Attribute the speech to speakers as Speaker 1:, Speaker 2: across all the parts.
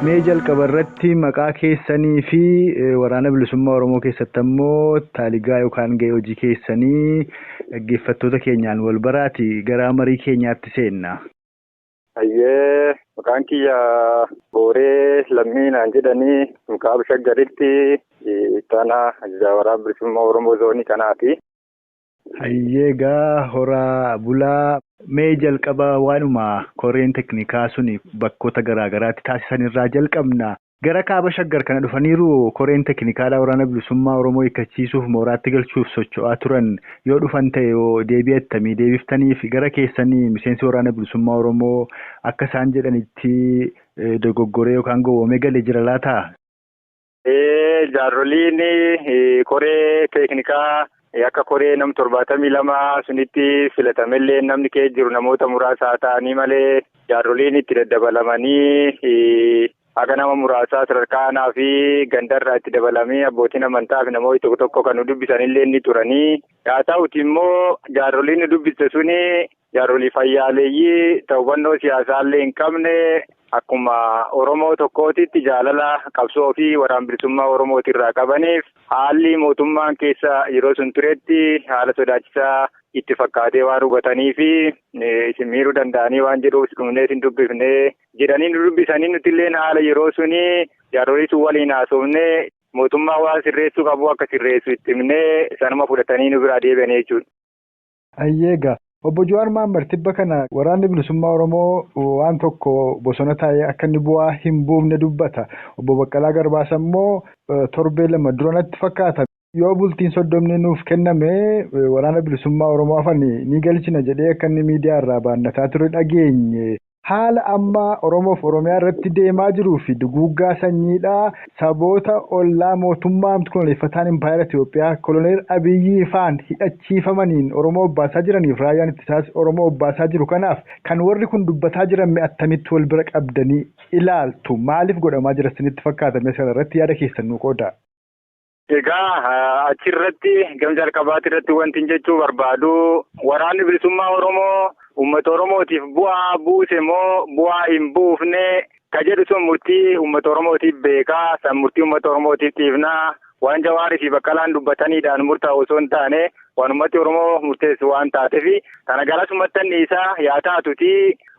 Speaker 1: Mee jalqaba irratti maqaa keessanii fi waraana bilisummaa Oromoo keessatti ammoo taaligaa yookaan gahee hojii keessanii dhaggeeffattoota keenyaan wal baraati gara marii keenyaatti seenna. Hayyee
Speaker 2: maqaan kiyya Booree Lammii naan jedhanii Mukaaba Shaggaritti itti aanaa ajajaa waraana bilisummaa Oromoo zoonii kanaati. Hayyee
Speaker 1: egaa horaa bulaa. Mee jalqaba waanuma koreen teknikaa sun bakkoota garaa garaatti taasisan irraa jalqabna. Gara Kaaba Shaggar kana dhufaniiru koreen teknikaadhaa Waraana Bilisummaa Oromoo hiikkachiisuuf mooraatti galchuuf socho'aa turan yoo dhufan ta'e hoo deebii attamii deebiftaniif? Gara keessan miseensi Waraana Bilisummaa Oromoo akka isaan jedhanitti dogoggoree yookaan gowwoomee gale jira laata? Jaarroliin
Speaker 2: koree teeknikaa akka koree nam torbaatamii lama sunitti filatamellee namni kee jiru namoota muraasa haa ta'anii malee jaarroliin itti daddabalamanii haga nama muraasaa sadarkaa aanaa fi gandarraa itti dabalamee abbootiin amantaa fi namoonni tokko tokko kan nu dubbisanillee ni turanii haa ta'uti immoo jaarroliin nu dubbiste suni Jaarolii fayyaaleeyyii ta hubannoo siyaasaallee hin qabne akkuma Oromoo tokkootitti jaalala qabsoo fi waraan bilisummaa Oromooti irraa qabaniif haalli mootummaan keessa yeroo sun turetti haala sodaachisaa itti fakkaatee waan hubatanii fi isin miiruu danda'anii waan jedhuuf dhumnee isin dubbifnee jedhanii nu dubbisanii nuti illee haala yeroo suni jaarolii sun waliin haasofne mootummaa waan sirreessuu qabu akka sirreessu itti himnee sanuma fudhatanii nu biraa deebi'anii jechuudha. Hayyee
Speaker 1: egaa Obbo Jawaar Mohammed tibba kana Waraanni Bilisummaa Oromoo waan tokko bosona taa'ee akka inni bu'aa hin buufne dubbata. Obbo Baqqalaa Garbaas ammoo torbee lama dura natti fakkaata yoo bultiin soddomni nuuf kenname Waraana Bilisummaa Oromoo hafan ni galchina jedhee akka inni miidiyaa irraa baannataa ture dhageenye. Haala amma Oromoof Oromiyaa irratti deemaa jiruu fi duguuggaa sanyiidhaa saboota ollaa mootummaa koloneeffataan Impaayera Itoophiyaa koloneel Abiyyii faan hidhachiifamaniin Oromoo obbaasaa jiraniif raayyaan ittisaas Oromoo obbaasaa jiru kanaaf kan warri kun dubbataa jiran mee attamitti wal bira qabdanii ilaaltu? Maaliif godhamaa jira isinitti fakkaata? Mee as kana irratti yaada keessan nuu qoodaa. Egaa
Speaker 2: achirratti gam jalqabaati irratti wanti jechuu barbaadu waraanni bilisummaa Oromoo uummata Oromootiif bu'aa buuse moo bu'aa hin buufne ka jedhu sun murtii uummata Oromootiif beekaa san murtii uummata Oromootiif dhiifnaa waan Jawaarii fi Baqqalaan dubbataniidhaan murtaa'u osoo hin taane waan uummati Oromoo murteessu waan taateef tana garasumattan dhiisaa yaa taatuti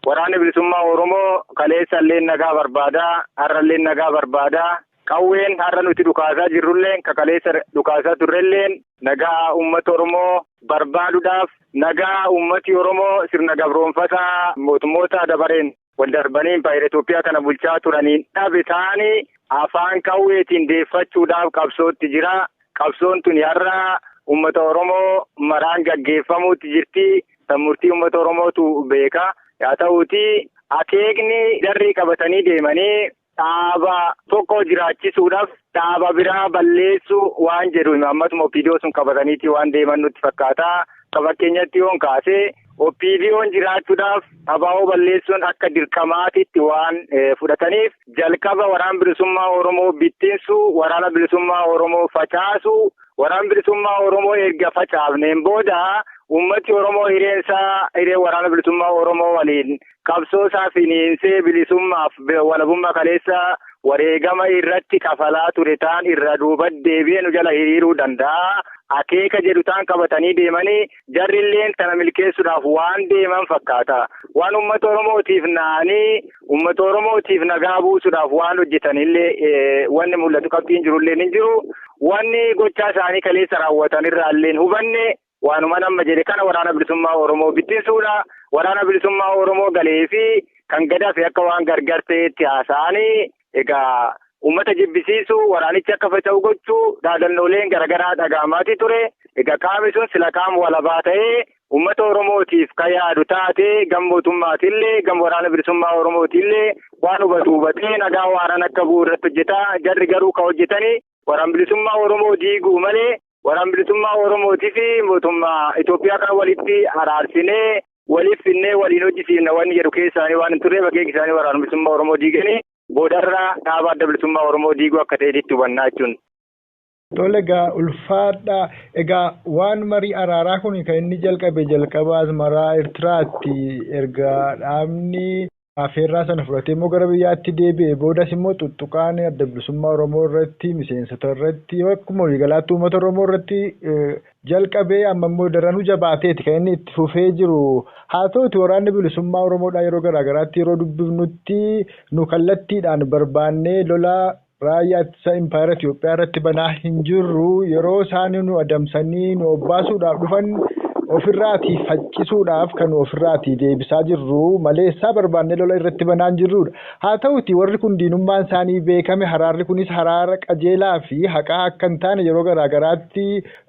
Speaker 2: waraanni bilisummaa Oromoo kaleessallee nagaa barbaada har'allee nagaa barbaada Qawween har'a nuti dhukaasaa jirrulleen ka kaleessa dhukaasaa turrelleen nagaa uummata Oromoo barbaaduudhaaf nagaa uummati Oromoo sirna gabroomfataa mootummoota dabareen wal darbanii impaayera Itoophiyaa kana bulchaa turaniin dhabe taanii afaan qawweetiin deeffachuudhaaf qabsootti jira. Qabsoon tuni har'a uummata Oromoo maraan gaggeeffamuutti jirti. Tan murtii uummata Oromootu beeka. Yaa ta'uutii akeekni darrii qabatanii deemanii Dhaaba tokko jiraachisuudhaaf dhaaba biraa balleessuu waan jedhu imaammatuma OPDO sun qabataniiti waan deeman nutti fakkaata. Akka fakkeenyatti yoon kaase OPDOn jiraachuudhaaf abaa'oo balleessuun akka dirqamaatitti waan fudhataniif jalqaba waraana bilisummaa Oromoo bittinsuu, waraana bilisummaa Oromoo facaasuu, waraana bilisummaa Oromoo erga facaafneen booda uummati Oromoo hireensaa hiree waraana bilisummaa Oromoo waliin qabsoo isaa finiinsee bilisummaaf walabummaa kaleessa wareegama irratti kafalaa ture taan irra duuba deebi'ee nu jala hiriiruu danda'a. Akeeka jedhu taan qabatanii deemanii jarri illeen tana milkeessuudhaaf waan deeman fakkaata. Waan uummata Oromootiif naanii uummata Oromootiif nagaa buusuudhaaf waan hojjetan illee wanni mul'atu qabxiin jiru illee hin jiru. Wanni gochaa isaanii kaleessa raawwatan irraa illee hubanne Waanuman amma jedhe kana waraana bilisummaa Oromoo bittinsuudha. Waraana bilisummaa Oromoo galee fi kan gad hafe akka waan gargar ta'eetti haasa'anii egaa uummata jibbisiisu waraanichi akka faca'u gochuu dhaadannooleen garaagaraa dhaga'amaatii ture. Egaa qaami sun sila qaama walabaa ta'ee uummata Oromootiif kan yaadu taatee gam mootummaatillee gam waraana bilisummaa Oromootillee waan hubatu hubatee nagaa waaran akka bu'u irratti hojjeta. Jarri garuu kan hojjetanii waraan bilisummaa Oromoo diiguu malee Waraan bilisummaa Oromootii fi mootummaa Itoophiyaa kan walitti araarsinee waliif finnee waliin hojjisiifna wanni jedhu keessaanii waan hin turreef akeeki isaanii waraana bilisummaa Oromoo diiganii boodarra dhaaba adda bilisummaa Oromoo diiguu akka ta'eetitti hubannaa jechuun. Tole
Speaker 1: egaa ulfaadhaa egaa waan marii araaraa kun kan inni jalqabe jalqaba asmaraa Ertiraatti erga dhaabni Afeerraa sana fudhatee immoo gara biyyaatti deebi'e. Boodas immoo tuttuqaan adda bilisummaa Oromoo irratti, miseensota irratti, akkuma waliigalaatti uummata Oromoo irratti jalqabee amma immoo daranuu jabaateeti kan inni itti fufee jiru. Haa ta'uti waraanni bilisummaa Oromoodhaa yeroo garaa garaatti yeroo dubbifnutti nu kallattiidhaan barbaannee lola Raayyaa Ittisaa Impaayera Itoophiyaa irratti banaa hin jirru. Yeroo isaan nu adamsanii nu obbaasuudhaaf dhufan ofirraatii faccisuudhaaf kan ofirraatii deebisaa jirru malee issaa barbaannee lola irratti banaa hin jirruudha. Haa ta'uutii warri kun diinummaan isaanii beekame haraarri kunis haraara qajeelaa fi haqaa akka hin taane yeroo garaa garaatti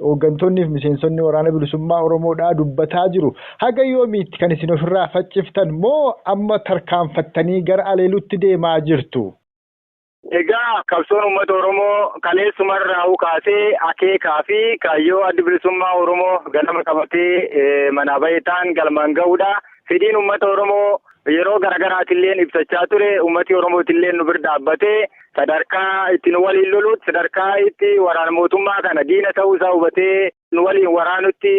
Speaker 1: hooggantoonnii fi miseensonni Waraana Bilisummaa Oromoodhaa dubbataa jiru. Haga yoomiitti kan isin ofirraa facciftan moo amma tarkaanfattanii gara aleeluutti deemaa jirtu? Egaa
Speaker 2: qabsoon uummata Oromoo kaleessumarraahuu kaasee akeekaa fi kaayyoo addi bilisummaa Oromoo ganama qabatee manaa bahee ta'an galmaan ga'uudha. Fedhiin uummata Oromoo yeroo garaagaraatilleen ibsachaa ture uummati Oromootilleen nu bira dhaabbatee sadarkaa itti nu waliin loluutti sadarkaa itti waraana mootummaa kana diina ta'uu isaa hubatee nu waliin waraanutti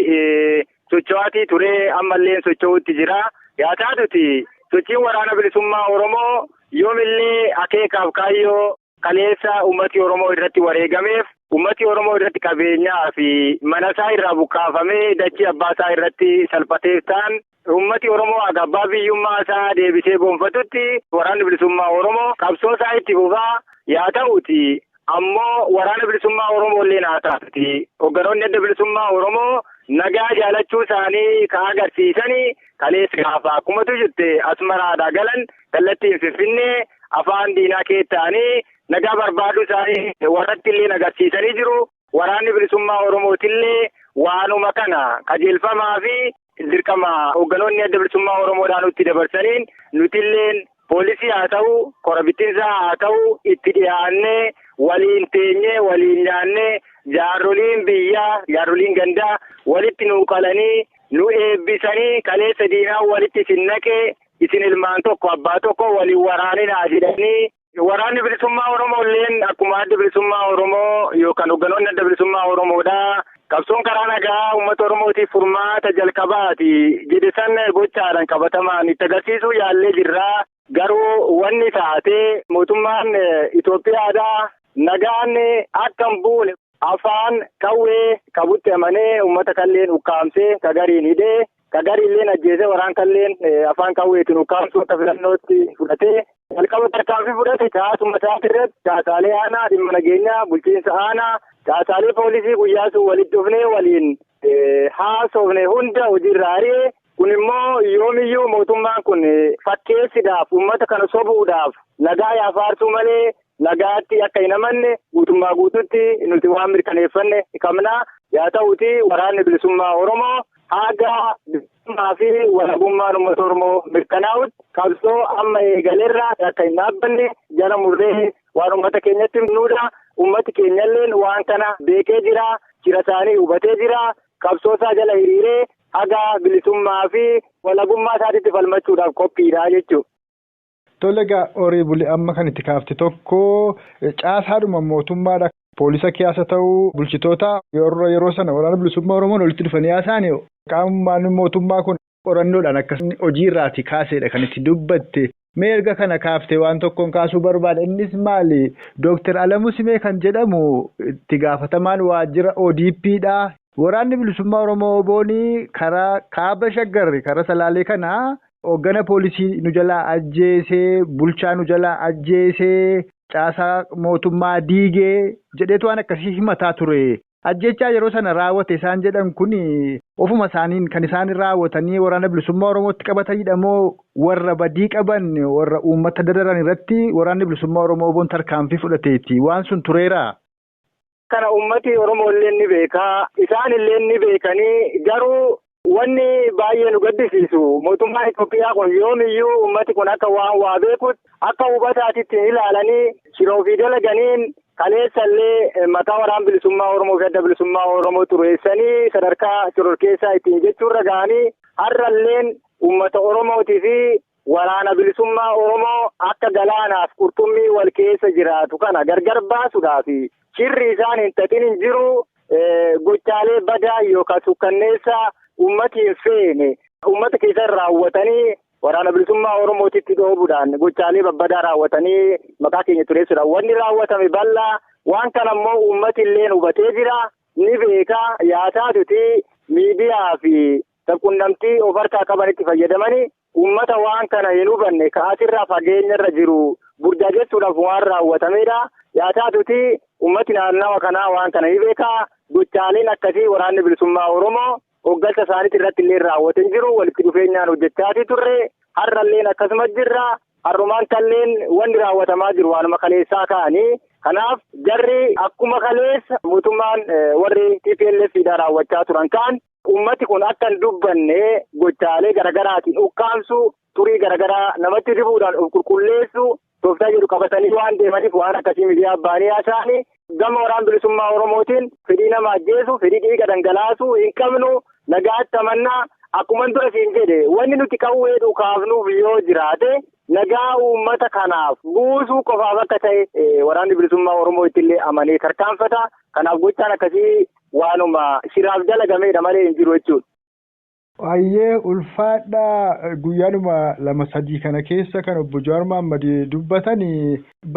Speaker 2: socho'aatii turee ammallee socho'uutti jira. Yaa taatuti sochiin waraana bilisummaa Oromoo yoomillee akeekaaf kaayyoo kaleessa ummati Oromoo irratti wareegameef ummati Oromoo irratti qabeenyaa fi manasaa irraa buqqaafamee dachii abbaasaa irratti salphateef ta'an Uummati Oromoo haga abbaa biyyummaa isaa deebisee gonfatutti waraanni bilisummaa Oromoo qabsoo isaa itti fufaa yaa ta'uuti ammoo waraana bilisummaa Oromoo illeen haa taatuti hogganoonni adda bilisummaa Oromoo nagaa jaalachuu isaanii ka agarsiisani kaleessa gaafa akkumatu jirte Asmaraadhaa galan kallattiin Finfinnee afaan diinaa keettaanii nagaa barbaaduu isaanii warratti illeen agarsiisanii jiru. Waraanni bilisummaa Oromootillee waanuma kana qajeelfamaa fi Dirqama hoogganoonni adda bilisummaa Oromoodhaa nutti dabarsaniin nutilleen poolisii haa ta'u, kora bittinsaa haa ta'u itti dhiyaannee waliin teenyee, waliin nyaannee jaarroliin biyyaa, jaarroliin gandaa walitti nu qalanii, nu eebbisanii kaleessa diinaan walitti isin naqee isin ilmaan tokko abbaa tokko wal hin waraaninaa jedhanii, Waraanni bilisummaa Oromoo illeen akkuma adda bilisummaa Oromoo yookaan hogganoonni adda bilisummaa Oromoodha. Qabsoon karaa nagaa uummata Oromootiif furmaata jalqabaati jedhe san gochaadhaan qabatamaan itti agarsiisuu yaallee jirra. Garuu wanni taatee mootummaan Itoophiyaadhaa nagaan akka hin buune afaan qawwee qabutti amanee uummata kalleen ukkaamsee kagariin hidhee Ka gariilleen ajjeesee waraan kalleen afaan qawweetiin ukkaamsuu akka filannootti fudhatee jalqaba tarkaanfii fudhate caasuma isaati irratti caasaalee aanaa dhimma nageenyaa bulchiinsa aanaa caasaalee poolisii guyyaa sun walitti dhufnee waliin haasofne hunda hojiirraa ari'e kun immoo yoomiyyuu mootummaan kun fakkeessiidhaaf uummata kana sobuudhaaf nagaa yaafaartuu malee nagaatti akka hin amanne guutummaa guututti nuti waan mirkaneeffanne qabna. Yaa ta'uti waraanni bilisummaa Oromoo haga bilisummaa fi walabummaan uummata Oromoo mirkanaa'utti qabsoo amma eegalerraa akka hin dhaabbanne jala murree waan uummata keenyatti himnuudha. Uummati keenyalleen waan kana beekee jira. Jira isaanii hubatee jira. Qabsoo isaa jala hiriiree haga bilisummaa fi walabummaa isaatitti falmachuudhaaf qophiidha jechuudha. Tole
Speaker 1: egaa horii buli amma kan itti kaafte tokko caasaadhuma mootummaadha. Poolisa keeyas haa ta'u bulchitoota warra yeroo sana waraana bilisummaa Oromoon walitti dhufanii haasa'ani qaamni mootummaa kun qorannoodhaan akka inni hojii irraati kaaseedha kan itti dubbatte. Mee erga kana kaaftee waan tokkoon kaasuu barbaada. Innis maali? Dooktar Alamuu Simee kan jedhamu itti gaafatamaan waajjira ODPdha. Waraanni Bilisummaa Oromoo WBOn karaa Kaaba Shaggar karaa Salaalee kana hoggana poolisii nu jalaa ajjeese, bulchaa nu jalaa ajjeese, caasaa mootummaa diige jedheetu waan akkasii himataa ture. Ajjeechaa yeroo sana raawwate isaan jedhan kun ofuma isaaniin kan isaan raawwatanii Waraana Bilisummaa Oromootti qabatanidha moo warra badii qaban warra uummata dararan irratti Waraanni Bilisummaa Oromoo WBOn tarkaanfii fudhateeti? Waan sun tureeraa? Kana
Speaker 2: ummati Oromoo illee ni beeka. Isaan illee ni beekanii garuu wanni baay'ee nu gaddisiisu mootummaan Itoophiyaa kun yoomiyyuu ummati kun akka waan waa beekutti akka hubataatitti hin ilaalanii shira ofii dalaganiin kaleessa illee maqaa waraan bilisummaa Oromoo fi adda bilisummaa Oromoo xureessanii sadarkaa shororkeessaa ittiin jechuurra ga'anii har'alleen ummata Oromootii fi Waraana Bilisummaa Oromoo akka galaanaaf qurxummii wal keessa jiraatu kana gargar baasudhaaf shirri isaan hin xaxin hin jiru. Gochaalee badaa yookaan sukkanneessaa ummati hin feene ummata keessatti raawwatanii waraana bilisummaa Oromootitti dhoobudhaan gochaalee babbadaa raawwatanii maqaa keenya tureessuudhaan wanni raawwatame bal'aa waan kana immoo ummati illee hubatee jira ni beeka yaasaatuti miidiyaa fi sabqunnamtii of harkaa qabanitti fayyadamanii Uummata waan kana hin hubanne ka asirraa fageenyarra jiru burjaajessuudhaaf waan raawwatamedha. Yaa taatuutii uummati naannawa kanaa waan kana ni beeka. Gochaaleen akkasii Waraanni Bilisummaa Oromoo hoggansa isaaniitiin irratti illee raawwate hin jiru. Walitti dhufeenyaan hojjechaatii turre. Har'alleen akkasuma jirra. Har'umaan talleen wanni raawwatamaa jiru waanuma kaleessaa kaani. Kanaaf jarri akkuma kaleessa mootummaan warri TPLF dha raawwachaa turan kaan Ummati kun akka hin dubbanne gochaalee garaagaraatiin ukkaamsuu, xurii garaagaraa namatti dibuudhaan of qulqulleessuu tooftaa jedhu qabatanii waan deemaniif waan akkasii miidiyaa baanii haasa'anii gama waraan bilisummaa Oromootiin fedhii nama ajjeesuu, fedhii dhiiga dhangalaasuu hin qabnu nagaatti amannaa akkuman dura siin jedhe wanni nuti qawwee dhukaafnuuf yoo jiraate nagaa uummata kanaaf buusuu qofaaf akka ta'e waraanni bilisummaa Oromoo ittillee amanee tarkaanfata. Kanaaf gochaan akkasii Waanuma shiraaf dalagameedha malee hin jiru jechuudha. Hayyee
Speaker 1: ulfaadhaa guyyaanuma lama sadii kana keessa kan obbo Jawaar Mohammad dubbatan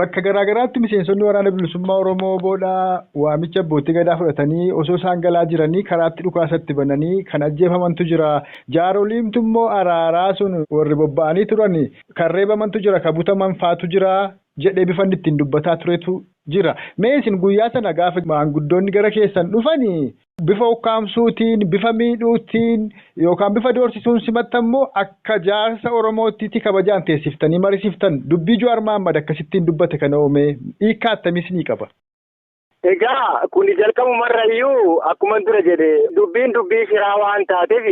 Speaker 1: bakka garaa garaatti miseensonni waraana bilisummaa Oromoo oboodha waamicha abbootii gadaa fudhatanii osoo isaan galaa jiranii karaatti dhukaasa itti bananii kan ajjeefamantu jira jaaroliimtu immoo araaraa sun warri bobba'anii turan kan reebamantu jira kan butaman faatu jira jedhee bifan ittiin dubbataa turetu jira. Mee isin guyyaa sana gaafa maanguddoonni gara keessan dhufani bifa ukkaamsuutiin, bifa miidhuutiin yookaan bifa doorsisuun simattan moo akka jaarsa Oromoottiti kabajaan teessiftanii marisiftan? Dubbii Juwaar Mahaammad akkasittiin dubbate kanoo mee hiikkaa attamii isinii qaba? Egaa
Speaker 2: kuni jalqabumarrayyuu akkuman dura jedhe dubbiin dubbii shiraa waan taateef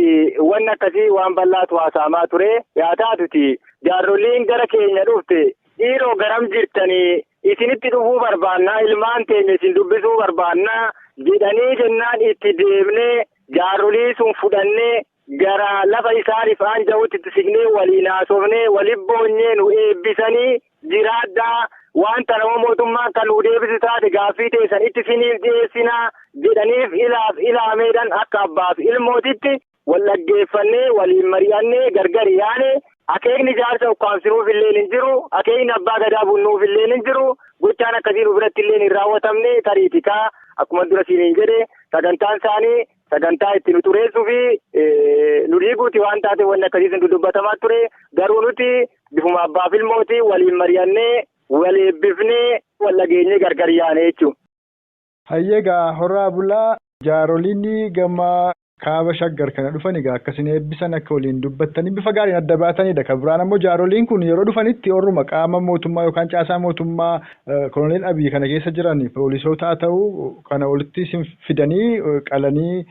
Speaker 2: wanni akkasii waan bal'aatu haasa'amaa ture. Yaa taatuti jaarroliin gara keenya dhufte dhiiroo garam jirtanii isinitti dhufuu barbaannaa ilmaan teenya isin dubbisuu barbaannaa jedhanii jennaan itti deemnee jaarrolii sun fudhannee gara lafa isaaniif aanja'utti itti siqnee waliin haasofnee waliin boonyee nu eebbisanii jiraadhaa waan tana hoo mootummaan kan nu deebisu taate gaaffii teessan itti siniif dhiyeessinaa jedhaniif ilaaf ilaameedhaan akka abbaaf ilmootitti wal dhaggeeffannee waliin mari'annee gargar yaane akeekni jaarsa ukkaamsinuuf illee hin jiru akeekni abbaa gadaa bunnuuf illee hin jiru gochaan akkasii nu biratti illee hin raawwatamne tariitikaa akkuma dura siiniin jedhe sagantaan isaanii sagantaa itti nu xureessuu fi nu diiguuti waan taate wanni akkasiis nu dubbatamaa ture garuu nuti bifuma abbaa fi ilmooti waliin mari'annee wal eebbifnee wal dhageenyee gargar yaane jechuudha. Hayyee
Speaker 1: gaa horaa bulaa jaaroliin gama kaaba shaggar kana dhufan egaa akkasiin eebbisan akka waliin dubbattanii bifa gaariin adda baatanidha. Kan biraan ammoo jaaroliin kun yeroo dhufanitti warruma qaama mootummaa yookaan caasaa mootummaa Koloneel Abiy kana keessa jiran poolisootaa ta'u kana walitti isin fidanii qalanii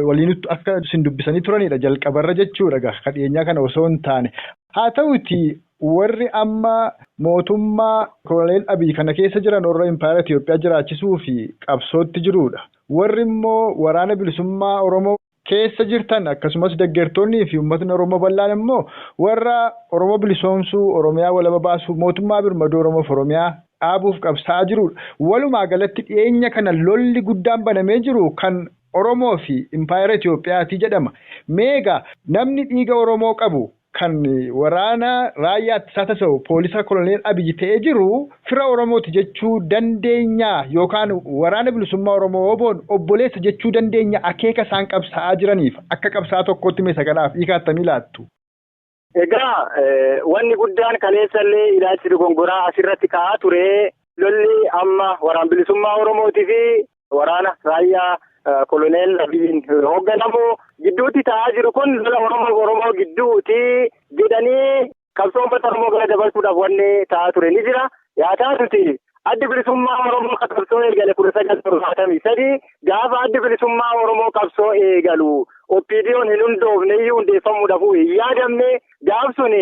Speaker 1: waliin akka isin dubbisanii turanidha jalqabarra jechuudha egaa kan dhiyeenyaa kana osoo hin taane. Haa ta'uti warri amma mootummaa koloneel Abiy kana keessa jiran warra impaayera Itoophiyaa jiraachisuu fi qabsootti jiruudha. Warri immoo waraana bilisummaa Oromoo keessa jirtan akkasumas deggertoonnii fi ummatni Oromoo bal'aan immoo warra Oromoo bilisoomsuu, Oromiyaa walaba baasuu, mootummaa birmaduu Oromoof Oromiyaa dhaabuuf qabsaa'aa jiruudha. Walumaa galatti dhiyeenya kana lolli guddaan banamee jiru kan Oromoo fi Impaayera Itoophiyaati jedhama. Mee egaa namni dhiiga Oromoo qabu Kan waraana raayyaa ittisaa tasa'u poolisaa koloneel Abiy ta'ee jiru fira Oromooti jechuu dandeenyaa yookaan Waraana Bilisummaa Oromoo, WBOn, obboleessa jechuu dandeenya akeeka isaan qabsaa'aa jiraniif akka qabsaa'aa tokkootti mee isa kanaaf hiika attamii laattu? Egaa
Speaker 2: wanni guddaan kaleessa illee ilaalchi dogongoraa asirratti ka'aa ture lolli amma Waraan Bilisummaa Oromootii fi Waraana raayyaa koloneel Abiyyiin hoogganamu gidduutti ta'aa jiru kun lola Oromoo Oromoo gidduuti jedhanii qabsoo uummata Oromoo gara dabarsuudhaaf wanni ta'aa ture ni jira. Yaa taatuti addi bilisummaa Oromoo kan qabsoo eegale kudha sagal torbaatamii sadii gaafa addi bilisummaa Oromoo qabsoo eegalu OPDOn hin hundoofne iyyuu hundeeffamuudhaaf hin yaadamne gaaf suni